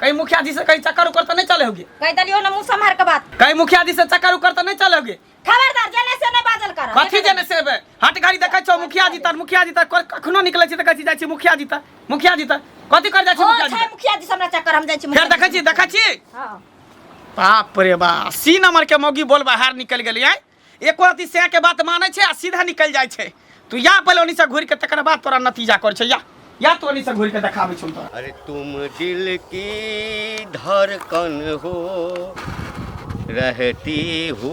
कहीं मुखिया जी से कहीं चक्कर उकर तो नहीं चले होगे कह दलियो ना मुंह संभार के बात कहीं मुखिया जी से चक्कर उकर तो नहीं चले होगे खबरदार जने से नहीं बाजल कर कथी जने से बे हट गाड़ी देखै छौ मुखिया जी तर मुखिया जी तर कर- कखनो निकलै छी तऽ कहै छी जाइ छी मुखिया जी तर मुखिया जी तर कथी कर जाइ छी हो मुखिया जी छै तर मुखिया जी से हमरा चक्कर हम जाइ छी फेर देखै छी देखै छी हां बाप रे बा सी नंबर के मौगी बोल बाहर निकल गेली आय एको रति सैं के बात मानै छै आ सीधा निकलि जाइ छै तू या पहिले ओनी से घुरि के तकर बाद तोरा नतीजा कर छै या या तो ओनी से घुरि के देखाबै छौ तोरा अरे तुम दिल की धड़कन हो रहती हो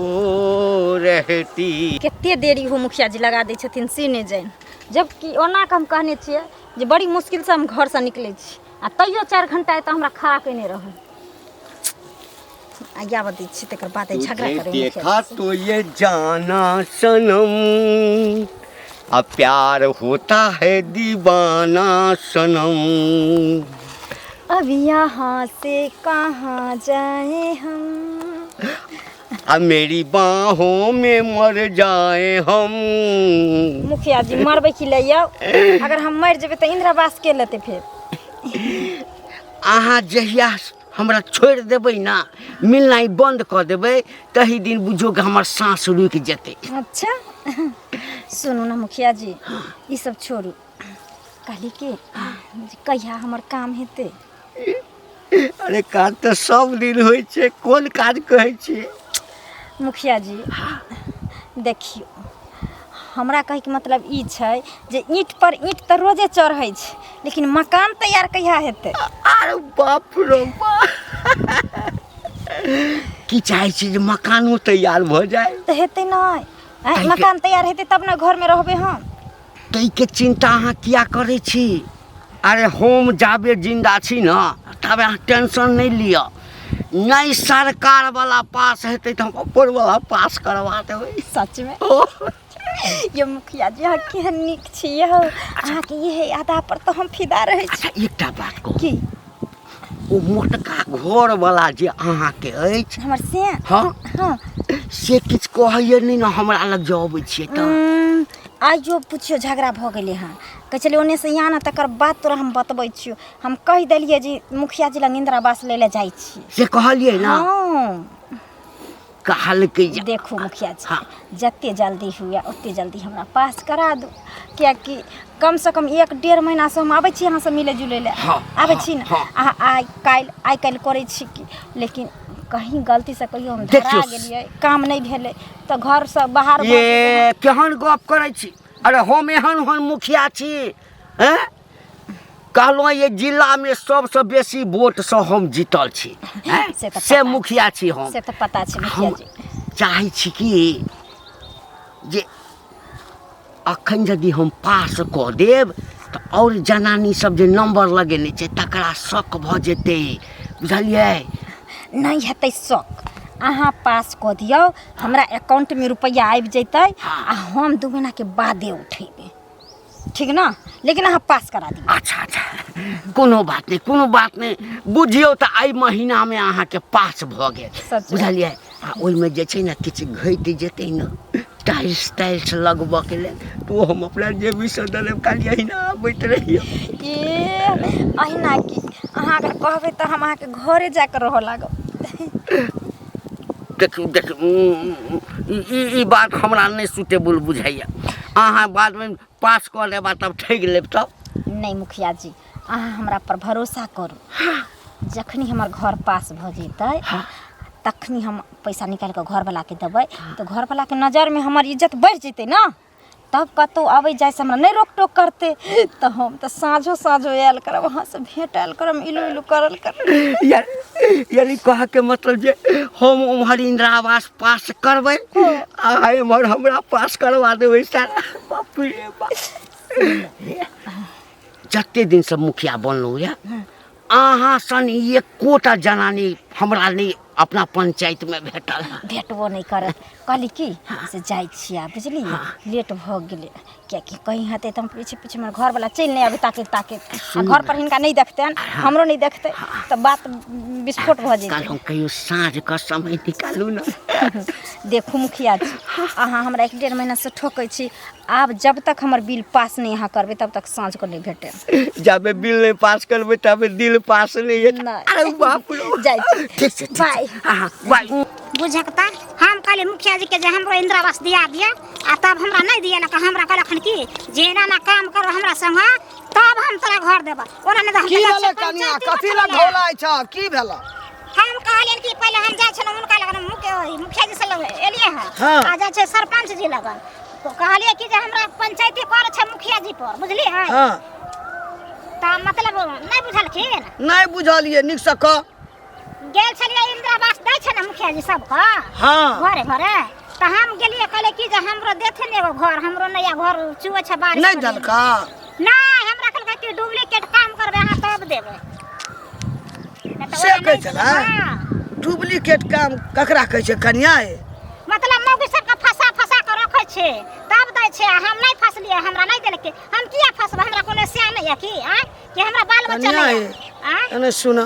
रहती कते देरी हो मुखिया जी लगा दै छथिन से नहि जानि जबकि ओना के हम कहने छियै जे बड़ी मुश्किल से हम घर से निकलै छी आ तैयो चारि घंटा एतऽ हमरा खड़ा केने रहल आज्ञा बतै छी तकर बाद तुझे झगड़ा करै देखा तो ये जाना सनम अब प्यार होता है दीवाना सनम अब यहाँ से कहाँ जाए हम अब मेरी बाहों में मर जाए हम मुखिया जी मरबै की लैया अगर हम मर जेबै तऽ इंदिरा आवास के लेतै फिर अहाँ जहिया हमरा छोड़ि देबै ने मिलनाइ बन्द कऽ देबै तही दिन बुझो कि हमर साँस रुकि जेतै अच्छा सुनू ने मुखिया जी ई सब छोड़ू कहली कि जे कहिया हमर काम हेतै अरे काज तऽ सब दिन होइ छै कोन काज कहै छियै मुखिया जी देखियौ हमरा कहैके मतलब ई छै जे ईंटपर ईंट तऽ रोजे चढ़ै छै लेकिन मकान तैयार कहिया हेतै अरे बाप रे की चाहै छी जे मकानो तैयार भऽ जाए तऽ हेतै नहि मकान तैयार हेतै तब ने घरमे रहबै हम ताहिके चिन्ता अहाँ किया करै छी अरे हम जाबे जिन्दा छी ने ताबे अहाँ टेंशन नहि लिअ नहि सरकार वाला पास हेतै तऽ हम ऊपर वाला पास करवा देबै सच में ओ ये मुखिया जी अहाँ केहन नीक छी यौ अहाँके इहे अदा पर तऽ हम फिदा रहै छी अच्छा एकटा बात कहू की ओ मोटका घर वाला जे अहाँके अछि हमर से हँ हँ से किछु कहैया नहि ने हमरा लग जे अबै छियै तऽ उम्म, आइयो पुछियो झगड़ा भऽ गेलै हँ कहै छलै ओन्नेसँ ई आनऽ तकर बाद तोरा हम बतबै छियौ हम कहि देलियै जे मुखिया जी लग इन्दिरा आवास लै लए जाइ छी से कहलियै ने हँ कहलकै जे देखू मुखिया जी हँ। जते जल्दी हुए ओते जल्दी हमरा पास करा दू कियाकि कम से कम एक डेढ़ महीना से हम आबै छी अहाँ से मिले जुले ले हँ, आबै छी ने हँ, अहाँ आइ काल्हि आइ काल्हि करै छी कि लेकिन कहीं गलती से कहियो हम धरा देखियौ। गेलियै काम नहि भेलै तऽ घर से बाहर भऽ गेलियै। ये केहन गप करै छी अरे हम एहन ओहन मुखिया छी हैं कहलहुँ ये जिला में सबसे बेसी वोट से हम जीतल छी हैं? से तऽ से पता- मुखिया छी हम से तऽ पता छै मुखिया हम जी चाहै छी कि जे अखन यदि हम पास कऽ देब तऽ आओर जनानी सब जे नंबर लगेने छै तकरा शक भऽ जेतै बुझलियै नहि हेतै शौक अहाँ पास कऽ दियौ हमरा अकाउंटमे रुपैआ आबि जैतै आ हम दू महीनाके बादे उठेबै ठीक ने लेकिन अहाँ पास करा दियौ अच्छा अच्छा कोनो बात नहि कोनो बात नहि बुझियौ तऽ एहि महीनामे अहाँके पास भऽ गेल सच। बुझलियै आ ओहिमे जे छै ने किछु घटि जेतै ने टाइल्स टाइल्स लगबऽके लेल तऽ ओ हम अपना जेबीसँ दऽ देब खाली अहिना आबैत रहियौ ए अहिना की अहाँ अगर कहबै तऽ हम अहाँके घरे जाकऽ रहऽ लागब देखियौ देखियौ ई बात हमरा नहि सुटेबल बुझाइए अहाँ बादमे पास कऽ लेबा तब ठगि लेब तब नहि मुखिया जी अहाँ हमरा पर भरोसा करू हाँ। जखनी हमर घर पास भऽ जेतै हाँ। तखनी हम पैसा निकालि कऽ घरवलाके देबै तऽ घरवलाके नजरमे हमर इज्जत बढ़ि जेतै ने तब कतहु अबै जाइसँ हमरा नहि रोक टोक करतै तऽ हम तऽ साँझो साँझो आयल करब अहाँसँ भेट आयल करब इलू इलू करल करब यानी कहऽके मतलब जे हम उम्हर इन्दिरा आवास पास करबै आ एम्हर हमरा पास करवा देबै सारा बाप रे बाप जते दिनसँ मुखिया बनलहुँ यऽ अहाँ सन एकोटा जनानी हमरा नहि अपना पंचायत में भेटल भेटबो नहीं करत कहली की हाँ। से जाय छिया बुझली हाँ। लेट भ गेले क्या कि कहीं हते त हम पीछे पीछे हमर घर वाला चल नहीं आबे ताके ताके आ घर पर हिनका नहीं देखते हाँ। हमरो नहीं देखते हाँ। तो बात विस्फोट भ जेते कल हम कहियो साँझ का समय निकालू ना देखू मुखिया जी हाँ। अहाँ हमरा एक डेढ़ महीना से ठोकै छी आब जब तक हमर बिल पास नहि अहाँ करबै तब तक साँझके नहि भेटत जाबे बिल नहि पास करबै ताबे दिल पास नहि हेतै नहि। अरे बाप रे जाइ छी ठीक छै बाय अहाँ बाय बुझे के तार हम कहले मुखिया जी के जे हमरो इंदिरा आवास दिया दिया आ तब हमरा नहीं दिया लक हमरा कहलक हन कि जे एना ना काम करो हमरा संग तब हम तोरा घर देबा ओना नहीं तो हम की तोरा भेलै से कनिया पंचायती कथी लग बठौले। ढोलाइ छ की भेलै हम कहलियनि कि पहिले हम जाइ छलहुँ हुनका लगन मुख्य ओहि मुखिया जी से लग एलियै हँ हँ। आ जाइ छै सरपंच जी लगन तो कहलियै कि जे हमरा पंचायती पर छै मुखिया जी पर बुझलियै हँ हँ तऽ मतलब नहि बुझलखिन नहि बुझलियै नीकसँ कह गेल छलियै इंदिरा आवास दै छै ने मुखिया जी सबके हँ घरे घरे तऽ हम गेलियै कहले कि जे हमरो देथे ने एगो घर हमरो नया घर चुए छै बारिश नहीं होने। दलका नहीं हमरा कहलकै कि डुप्लीकेट काम करबे अहाँ तब देबै नहि तऽ से ओना कहै नहि छलै? देबै। हाँ। डुप्लीकेट काम ककरा कहै छै कनिया ए? मतलब मौगी सबके फंसा फंसा के रखे छै तब दै छै आ हम नहि फंसलिए हमरा नहि देलकै हम किया फंसबै हमरा कोनो सिया नहि यऽ कि आँय कि हमरा बाल बच्चा कनिया नहीं ए, यऽ आँय एने सुना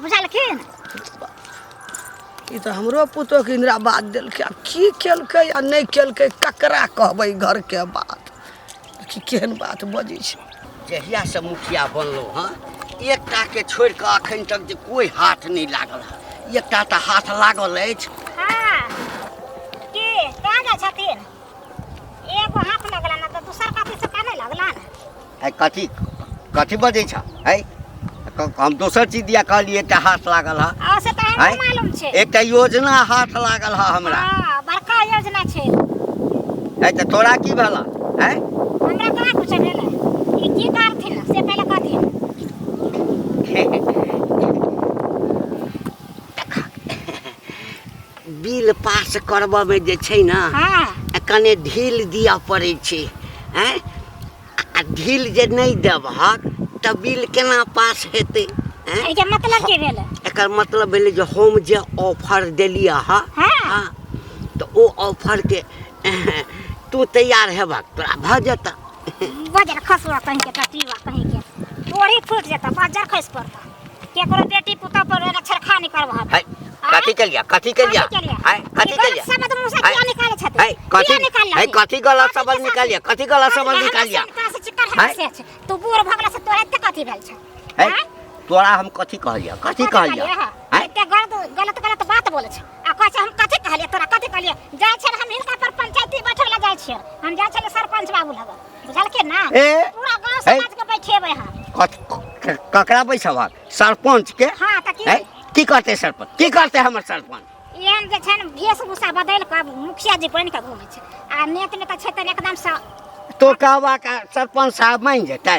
बुझलखिन ई तऽ हमरो पुतोहके इन्दिरा बात देलकै आब की केलकै आ नहि केलकै ककरा कहबै घरके बात देखी केहन बात बजै छै जहिया से मुखिया बनलहुँ हँ एकटा के छोड़ि कऽ अखन तक जे कोई हाथ नहि लागल हँ एकटा तऽ हाथ लागल अछि हाँ के कहाँ जाइ छथिन एगो हाथ लगला ना तो दूसर का तीसर का नहीं लगला ना आइ कथी कथी बजै छ है क- हम दोसर चीज दिया कहलिए एकटा हाथ लागल हा आ से तऽ हमरा आँय? मालूम छै एकटा योजना हाथ लागल हा हमरा हाँ, बड़का योजना छै है तऽ तोरा की भेला है हमरा कहाँ कुछ भेलै ई की करथिन से पहिले कहथिन बिल पास करबऽमे जे छै ने हाँ आ कने ढील दिअ पड़ै छै आँय आ ढील जे नहि देबहक तऽ बिल केना पास हेतै आँय एहिके मतलब की भेलै एकर मतलब भेलै जे हम जे ऑफर देलियै हँ हाँ हँ तऽ ओ ऑफरके तू तैयार हेबक तोरा भऽ जेतह बजर खसुआ कहीं के टटीवा कहीं के तोरी फूट जाता बजर खस पड़ता केकरो बेटी पुता पर एगो छरखा नहीं करवा हाय कथी के लिया कथी के लिया हाय कथी के लिया सब मुंह से किया निकाले छत हाय कथी हाय कथी गला सबल निकाल लिया कथी गला सबल निकाल लिया हाय तू बूढ़ भगला से तोरा एते कथी भेल छ हाय तोरा हम कथी कहलिया कथी कहलिया हाय एते गलत गलत गलत बात बोले छ आ कहै छै हम कथी कहलियै तोरा कथी कहलियै जाइ छै हम हिनका पर पंचायती बैठे लए जाइ छियै हम जाइ छलियै सरपंच बाबू लग बुझलके ना ए, पूरा गांव ए। समाज के बैठेबै हम कथ- क- ककरा बैसब हम सरपंच के हां त की ए, की करते सरपंच की करते हमर सरपंच एहन जे छै ने वेशभूषा बदलि कऽ मुखिया जी बनि कऽ घूमै छै आ नेत नेता छै तऽ एकदम से तो कहबा का सरपंच साहब मानि जेतै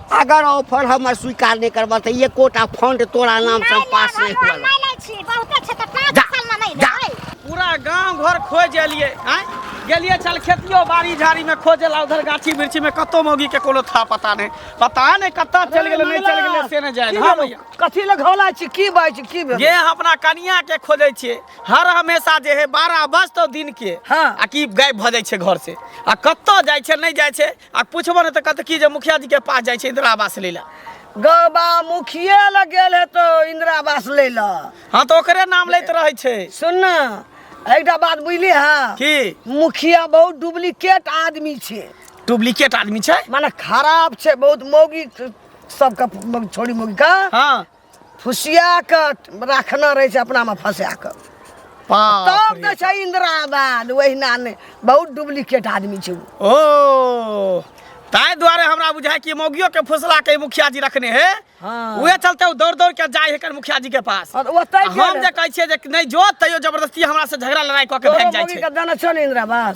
अगर ऑफर हमर स्वीकार नहीं करबा त ये कोटा फंड तोरा नाम से पास नहीं हुआ नहीं लै छी बहुते छै त पाँच जा, साल में नहीं जा। लेबै पूरा गांव घर खोज एलिए आय गेलिए चल खेतियो बाड़ी झाड़ी में खोजे ला उधर गाछी बिरछी में कतो मौगी के कोनो था पता नहीं पता नहीं कत्ता चल गेले नहीं चल गेले से नहीं जाए हां भैया कथी लग हौला छी की बात छी की भेल ये अपना कनिया के खोजे छे हर हमेशा जे है बारह बज तो दिन के हाँ। आ की गायब भ जाय छे घर से आ कत्तो जाय छे नहीं जाय छे आ पूछबो ने तऽ कहते की जे मुखिया जी के पास जाइ छै इंदिरा आवास लै लए गबा मुखिए लग गेल हेतो इंदिरा आवास लै लऽ हाँ तऽ ओकरे नाम लैत रहै छै सुन ने एकटा बात बुझली हँ की मुखिया बहुत डुप्लीकेट आदमी छै डुप्लीकेट आदमी छै माने खराब छै बहुत मौगी सबके छोड़ी मौगी का हाँ फुसिया कऽ राखना रहै छै अपनामे फँसा कऽ बाप तब रे। दै छै इन्दिरा आवास ओहिना नहि बहुत डुप्लीकेट आदमी छै ओ ओ ताहि दुआरे हमरा बुझाय कि मौगियो के फुसला के मुखिया जी रखने हे हाँ। उहे चलते उ दौड़ दौड़ के जाय हेकर मुखिया जी के पास और ओतै आ हम जे कहै छियै जे नहि जो तैयो जबरदस्ती हमरा से झगड़ा लड़ाई कऽ के भागि जाइ छै दाना छो ने इन्दिरा आवास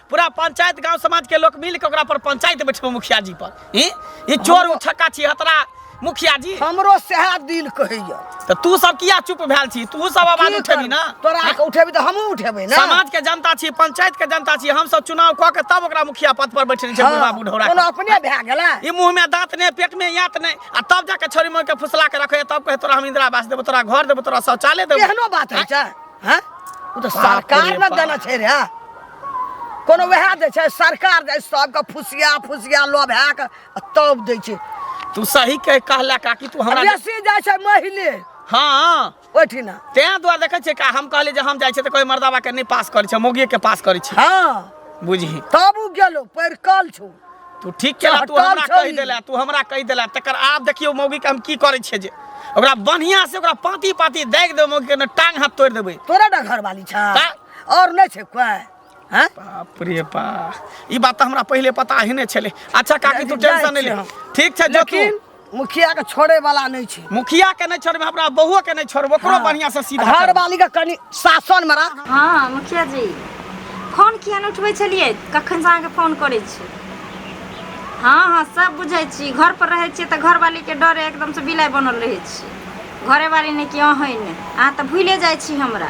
पूरा पंचायत गांव समाज के लोग मिल के ओकरा पर पंचायत बैठबो मुखिया जी पर ई ई चोर उठक्का छी हतरा मुखिया जी हमरो सएह दिल कहैया त तू सब किया चुप भेल छी तू सब आवाज की उठेबी करब? ना तोरा के उठेबी तऽ हमहूँ उठेबै ने समाज के जनता छी पंचायत के जनता छी हम सब चुनाव क के तब ओकरा मुखिया पद पर बैठने छै बुढ़वा बुढ़ौरा कोनो के। अपने भए गेला ई मुंह में दांत ने पेट में यात ने आ तब जाके छोरी मोर के फुसला के रखे तब कहे तोरा हम इंदिरा आवास देबो तोरा घर देबो तोरा शौचालय देबो एहनो बात होइ छै हैं ओ तऽ बाप रे सरकार ने बाप। देना छै रे कोनो वएह दै छै सरकार दै सबके फुसिया फुसिया लऽ भए कऽ आ तब दै छै तू सही कह कहला काकी तू हमरा बेसी जाइ छै महिले हाँ ओहिठिना तें दुआरे देखै छियै का हम कहली जे हम जाइ छियै तऽ कोई मर्दाबा के नहि पास करै छै मोगिए के पास करै छै हाँ बुझही तब ओ गेलो परिकल छौ तू ठीक केला तू चहटल हमरा छौ कहि ई। देला तू हमरा कहि देला तकर आब देखियौ मौगी के हम की करै छियै जे ओकरा बढ़िया से ओकरा पाती पाती दागि देबै मौगी के ने टांग हाथ तोड़ि देबै तोरा डा घरवाली छा ता- और नहीं छे कोई हैं बाप रे बा ई बात तो हमरा पहले पता ही नहीं छले अच्छा काकी तू जाय टेंशन नहीं ले छी। ठीक छै जो तू लेकिन मुखिया के छोड़े वाला नहीं छे मुखिया के नहीं छोड़बे हमरा बहुओ के नहीं छोड़बे ओकरो बढ़िया से सीधा हर करबे। वाली का कनी शासन मरा हँ मुखिया जी फोन किया नहि उठबै छलियै कखन से अहाँके फोन करै छी हँ हँ सब बुझै छी घर पर रहै छियै तऽ घरवालीके डरे एकदम से बिलाइ बनल रहै छी घरेवाली नहि कि अहै नहि अहाँ तऽ भूले जाइ छी हमरा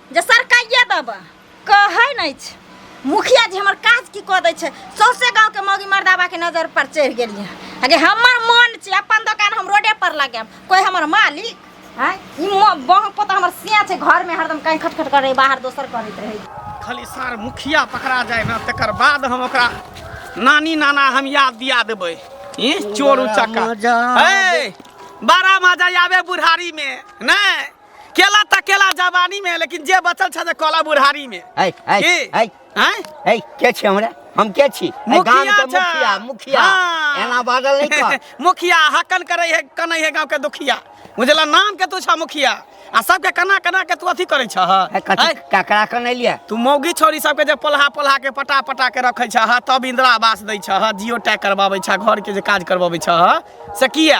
जे सरकाइए देबै कहै नहि छै मुखिया जी हमर काज की कऽ दै छै सौंसे गाँवके मौगी मर्दाबाके नजर पर चढ़ि गेलियै अगे हमर मन छै अपन दोकान हम रोडे पर लगायब कोइ हमर मालिक आँय ई बह पोता हमर सिया छै घरमे हरदम कहीं खटखट करै बाहर दोसर करैत रहै खाली सार मुखिया पकड़ा जाए ना तकर बाद हम ओकरा नानी नाना हम याद दिया देबै ई चोर उचक्का मजा हे बड़ा मजा आवे बुढ़ारी में नहीं केला त केला जवानी में लेकिन जे बचल छ कला बुढ़ारी में ऐ ऐ ऐ हैं ऐ के छे हमरा हम के छी गांव के मुखिया मुखिया हाँ। एना बादल नहीं कर मुखिया हकन करे है कनै है गांव के दुखिया बुझला नाम के तू छ मुखिया आ सबके कना कना के तू अथी करे छह ककरा कने लिए तू मौगी छोरी सबके जे पलहा पलहा के पटा पटा के रखे छह तब इंदिरा आवास दै छह जियो टैग करबाबै छह घर के जे काज करबाबै छह से किया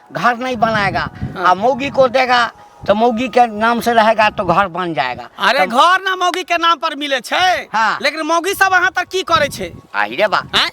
घर नहीं बनाएगा हाँ। आ मौगी को देगा तो मौगी के नाम से रहेगा तो घर बन जाएगा अरे तो... घर ना मौगी के नाम पर मिले छे हाँ। लेकिन मौगी सब अहाँ तक की करे छे आई रे बा आय?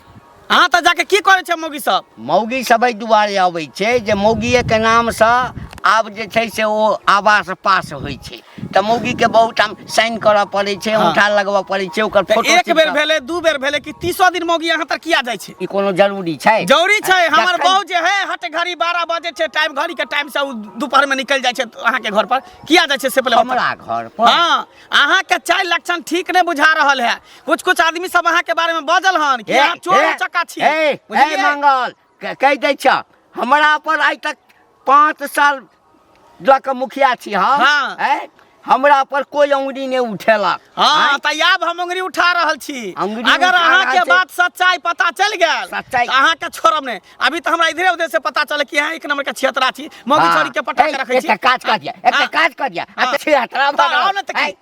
अहाँ तक जाके की करे छे मौगी सब मौगी सब दुआरे आवे छे जे मौगी के नाम से आब जे छे से वो आवास पास होई छे तऽ मौगी के बहुत ठाम साइन करऽ पड़ै छै हाँ। अंगूठा लगबऽ पड़ै छै ओकर तऽ फोटो एक बेर भेलै दू बेर भेलै कि तीसो दिन मौगी यहाँ तक किया जाइ छै ई कोनो जरूरी छै जरूरी छै आ, हमर जखन- बहू जे है हट घड़ी बारह बजे छै टाइम घड़ी के टाइम से उ दोपहर में निकल जाइ छै अहाँ के घर पर किया जाइ छै से पहिले बताउ। हमरा घर पर हाँ अहाँ के चाय लक्षण ठीक नहीं बुझा रहल है कुछ कुछ आदमी सब अहाँ के बारे में बजल हन कि ए, अहाँ चोर ए, चक्का छी ए, ए, बुझलियै? मंगल के- कहि दै छ हमरा पर आइ तक पाँच साल लऽ कऽ मुखिया छी हम हाँ। हैं? हमरा पर कोई अंगुरी नहीं उठेला हाँ त आब हम अंगुरी उठा रहल छी अंगुरी अगर उठा अहाँ रहल के छी। बात सच्चाई पता चल गेल सच्चाई। त अहाँ के छोड़ब नहीं अभी त हमरा इधरे उधरे से पता चल कि अहाँ एक नंबर के छियतरा छी मौगी छोरी के पटा के रखे छी एकटा काज कर दिया एकटा हाँ। काज कर दिया हाँ। अच्छा हतरा त आओ न त की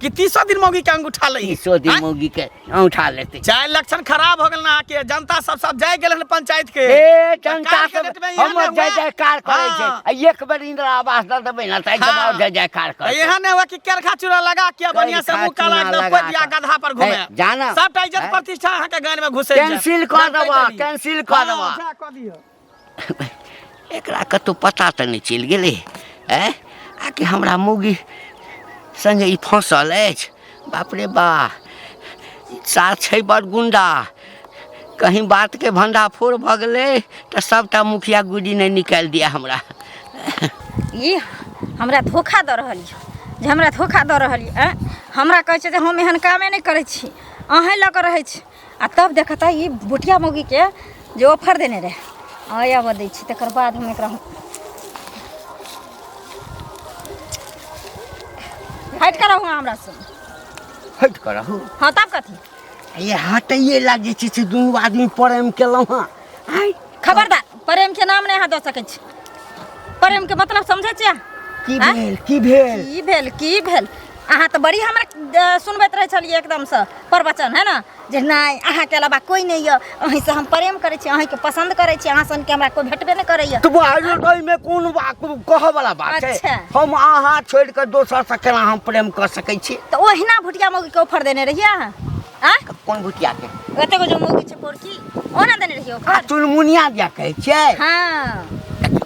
कि तीसो दिन मौगी के अंगूठा ले तीसो दिन मौगी के अंगूठा लेते चाहे लक्षण खराब हो गल ना के जनता सब सब जाय गेल हन पंचायत के ए जनता के डेट में इहे हम ना जय हुआ। जयकार करे छै हाँ। आ एक बेर इंदिरा आवास दे देबै ना तऽ हाँ। जवाब जय जयकार करे यह ने हुआ कि केरखा चूड़ा लगा के बढ़िया से करखा मुंह काला चूड़ा एकदम लगा पदिया के। गधा पर घूमे ए, जाना। सबटा इज्जत ए। प्रतिष्ठा अहाँ के गान में घुसे कैंसिल कऽ देबऽ कैंसिल कऽ देबऽ जा कऽ दियौ एकरा कतहु पता तऽ नहि चलि गेलै आँय आ कि हमरा मौगी सङ्गे ई फँसल अछि बाप रे बा साल छै बड़ गुंडा कहीं बातके भंडाफोर भऽ गेलै तऽ सभटा मुखिया गुडी नहि निकालि दिया हमरा ई हमरा धोखा दऽ रहल यऽ जे हमरा धोखा दऽ रहल यऽ आँय हमरा कहै छै जे हम एहन कामे नहि करै छी अहेँ लऽ कऽ रहै छी आ तब देखता ई बुटिया मौगीके जे ऑफर देने रहै हँ आबऽ दै छी तकर बाद हम एकरा हटि कऽ रहू हमरा से हटि कऽ रहू हँ तब कथी ये हटैये लागे छै से दुनू आदमी प्रेम केलहुँ हँ आँय खबरदार प्रेम के नाम नहीं अहाँ दऽ सकै छी प्रेम के मतलब समझै छियै की आँय? भेल की भेल की भेल की भेल अहाँ तऽ बड़ी हमरा अ, सुनबैत रहै छलियै एकदमसँ प्रवचन है ने जे नहि अहाँके अलावा कोइ नहि यऽ अहीँसँ हम प्रेम करै छी अहीँके पसन्द करै छी अहाँ सनके हमरा कोइ भेटबे नहि करैए तो बाहर तो में कौन बात कह वाला बात अच्छा। है हम अहाँ छोड़ के दोसर से केना हम प्रेम कर सकै छी तऽ ओहिना भुटिया मौगी के ऑफर देने रहियै अहाँ आ कोन भुतिया के ओते को जो मौगी छै पोरकी ओना देने रहियो आ चुनमुनिया दिया कहै छै हां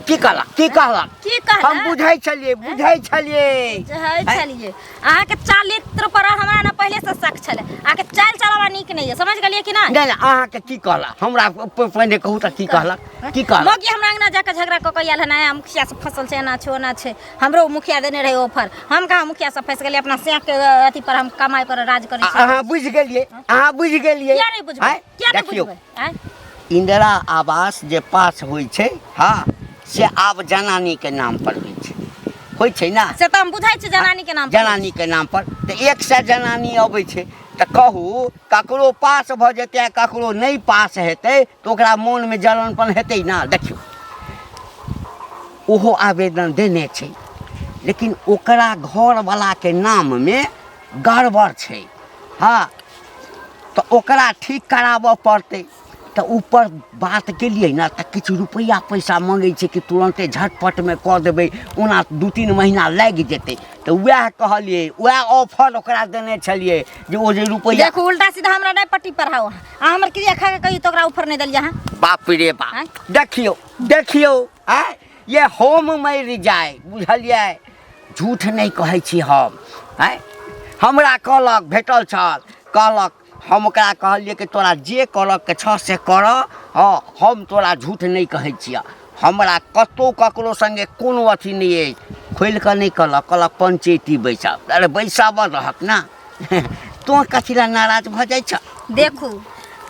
की कहला की कहला की कहला हम बुझै छलिए बुझै छलिए बुझै छलिए अहाँ के चरित्र पर हमरा ना पहले से शक छले अहाँ के चाल चलावा नीक नहीं है समझ गलिए कि ना नहीं अहाँ के की कहला हमरा पहिने कहू त की कहला की कहला मौगी हमरा अंगना जाके झगड़ा क के आयल है ना मुखिया से फसल छै ना छो ना छै हमरो मुखिया देने रहे ऑफर हम कहाँ मुखिया सब फंस गेलिए अपना सेक के अथी पर हम कमाई पर राज करी अहाँ बुझ गेलिए अहाँ बुझ गेलिए क्या नहीं बुझबै क्या नहीं बुझबै आय इंदिरा आवास जे पास होइ छै हाँ से आब जनानी के नाम पर होइ छै होइ छै ना से तऽ हम बुझै छी जनानी के नाम जनानी के नाम पर तऽ एक सए जनानी अबै छै तऽ कहू ककरो पास भऽ जेतै ककरो नहि पास हेतै तऽ ओकरा मोनमे जलनपन हेतै ने देखियौ ओहो आवेदन देने छै लेकिन ओकरा घरवलाके नाममे गड़बड़ छै हँ तऽ ओकरा ठीक कराबऽ पड़तै तऽ ऊपर बात केलियै ने तऽ किछु रुपैआ पैसा मङ्गै छै कि तुरन्ते झटपटमे कऽ देबै ओना दू तीन महीना लागि जेतै तऽ उएह कहलियै उएह ऑफर ओकरा देने छलियै जे ओ जे रुपैआ देखू उल्टा सीधा हमरा नहि पट्टी पढ़ाउ अहाँ आ हमर क्रिया खा के कही तो ओकरा ऊपर नहीं दलिया हां बाप रे बाप आँय? देखियो देखियो आ ये होम में रिजाय बुझलिए झूठ नहीं कहै छी हम आय हमरा कहलक भेटल छल कहलक हम ओकरा कहलिए कि तोरा जे करक के छ से कर हँ हम तोरा झूठ नहीं कहै छियै हमरा कतौ ककरो संगे कोनो अथी नहीं अछि खोलि कऽ नहीं कहलक कहलक पंचैती बैसब अरे बैसाबऽ रहक ना तोँ कथी लए नाराज भऽ जाइ छ देखू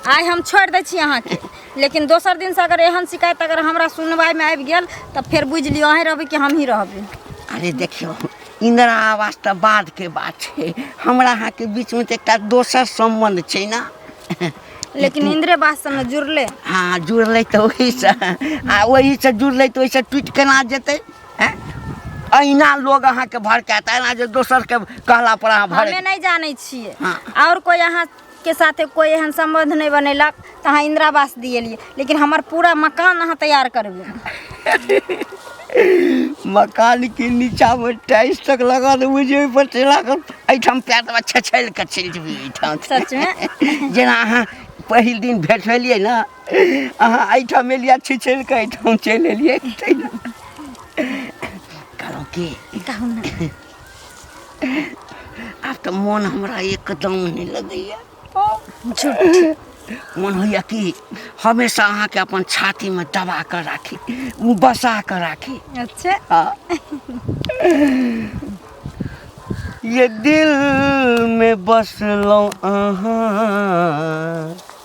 आइ हम छोड़ि दै छी अहाँके लेकिन दोसर दिनसँ अगर एहन शिकायत अगर हमरा सुनवाइमे आबि गेल तऽ फेर बुझि लिअ अहीँ रहबै कि हमहीँ रहबै अरे देखियौ इन्दिरा आवास तऽ बादके बात छै हमरा अहाँके बीचमे तऽ एकटा दोसर सम्बन्ध छै ने लेकिन इन्द्रे बाससँ ने जुड़लै हँ जुड़लै तऽ ओहीसँ आ ओहीसँ जुड़लै तऽ ओहिसँ टूटि केना जेतै हैं? अहिना लोग अहाँके भड़कायत एना जे दोसर के कहला पर अहाँ हमे भड़क नहीं जाने छिए हाँ। और कोई यहाँ के साथे कोई एहन संबंध नहीं बनेलक तो अहाँ इंदिरा आवास दिएलिए लेकिन हमार पूरा मकान अहाँ तैयार करबे मकान के नीचा में टाइल्स तक लगा देबै जे ओहिपर चला कऽ एहिठाम पैर देबै छछैल कऽ चलि जेबै एहिठाम सच में जेना अहाँ पहिल दिन भेट भेलियै ने अहाँ एहिठाम एलियै छिछल कऽ एहिठाम चलि एलियै कहलहुँ की आब तऽ मोन हमरा एकदम नहि लगैए मोन होइए कि हमेशा अहाँके अपन छातीमे दबा कऽ राखी बसा कऽ राखी अच्छा हाँ। ये दिल में बसलहुँ अहाँ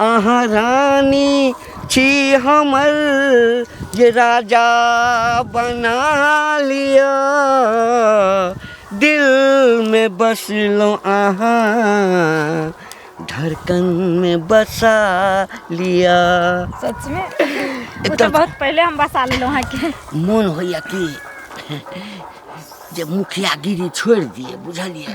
अहाँ रानी छी हमर जे राजा बना लिअ दिलमे बसलहुँ अहाँ धड़कनमे बसा लिअ सचमे ओ तऽ बहुत पहिले हम बसा लेलहुँ अहाँके मोन होइए कि जे मुखियागिरी छोड़ि दियै बुझलियै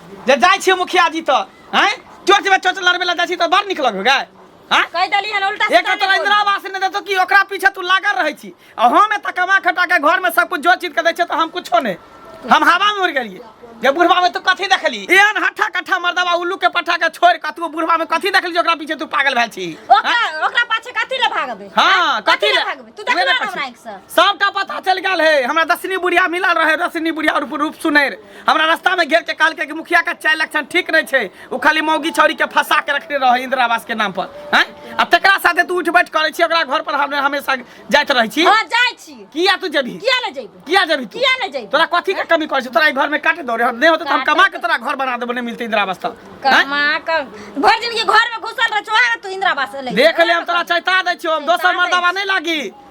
जे जाइ छियै मुखिया जी तऽ हैं चोट में चोट लड़बे ला जाइ छी तऽ बड़ निक लगबे गाय हैं कहि देली हन उल्टा एक सीधा तोरा नहि इंदिरा बोल। आवास नहि देतो कि ओकरा पीछे तू लागल रहै छी आ हम एतऽ कमा खटा के घर में सब कुछ जोड़ चीज के दै छियै तऽ हम कुछो नहि हम हवा में उड़ गेलियै जे बुढ़वा में तू कथी देखली एहन हट्ठा कट्ठा मर्दवा उल्लू के पट्ठा के छोड़ के तू बुढ़वा में कथी देखली जे ओकरा पीछे तू पागल भेल छी हैं? ओकरा ओकरा पाछे कथी ले भागबे हाँ कथी ले ले भागबे तू उहे देखला ने हमरा पूछी। आँखि से सबटा पता चल गेल है हमरा दसनी बुढ़िया मिलल रहे दसनी बुढ़िया और रूप सुनैर हमरा रास्ता में घेर के काल के मुखिया का चाय लक्षण ठीक नहीं छे उ खाली मौगी छौरी के फंसा के रखने रहे इंदिरा आवास के नाम पर हैं आ तकरा साथे तू उठ बैठ करे छी ओकरा घर पर हम हमेशा जाइत रहे छी हां जाय छी किया तू जेबी किया ले जेबी किया जेबी तू किया ले जेबी तोरा कथि के कमी कर छी तोरा घर में काटे दौरे नहीं होते तो हम कमा के तोरा घर बना देबो नहीं मिलते इंदिरा आवास तो कमा क भर दिन के घर में घुसल रह चोहा तू इंदिरा आवास ले देख ले हम तोरा चैता दे छी हम दोसर मर्दावा नहीं लागी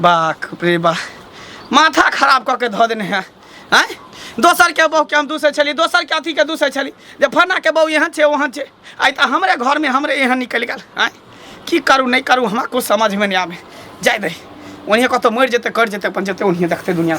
बाक रे बा माथा खराब कऽ के धऽ देने है आँय दोसरके बहुके हम दूसै छली दोसरके अथीके दूसै छली जे फन्नाके बहु एहन छै ओहन छै आइ तऽ हमरे घरमे हमरे एहन निकलि गेल आँय की करू नहि करू हमरा किछु समझमे नहि आबै जाय दही ओनिए कतहु मरि जेतै करि जेतै अपन जेतै ओनिए देखतै दुनिया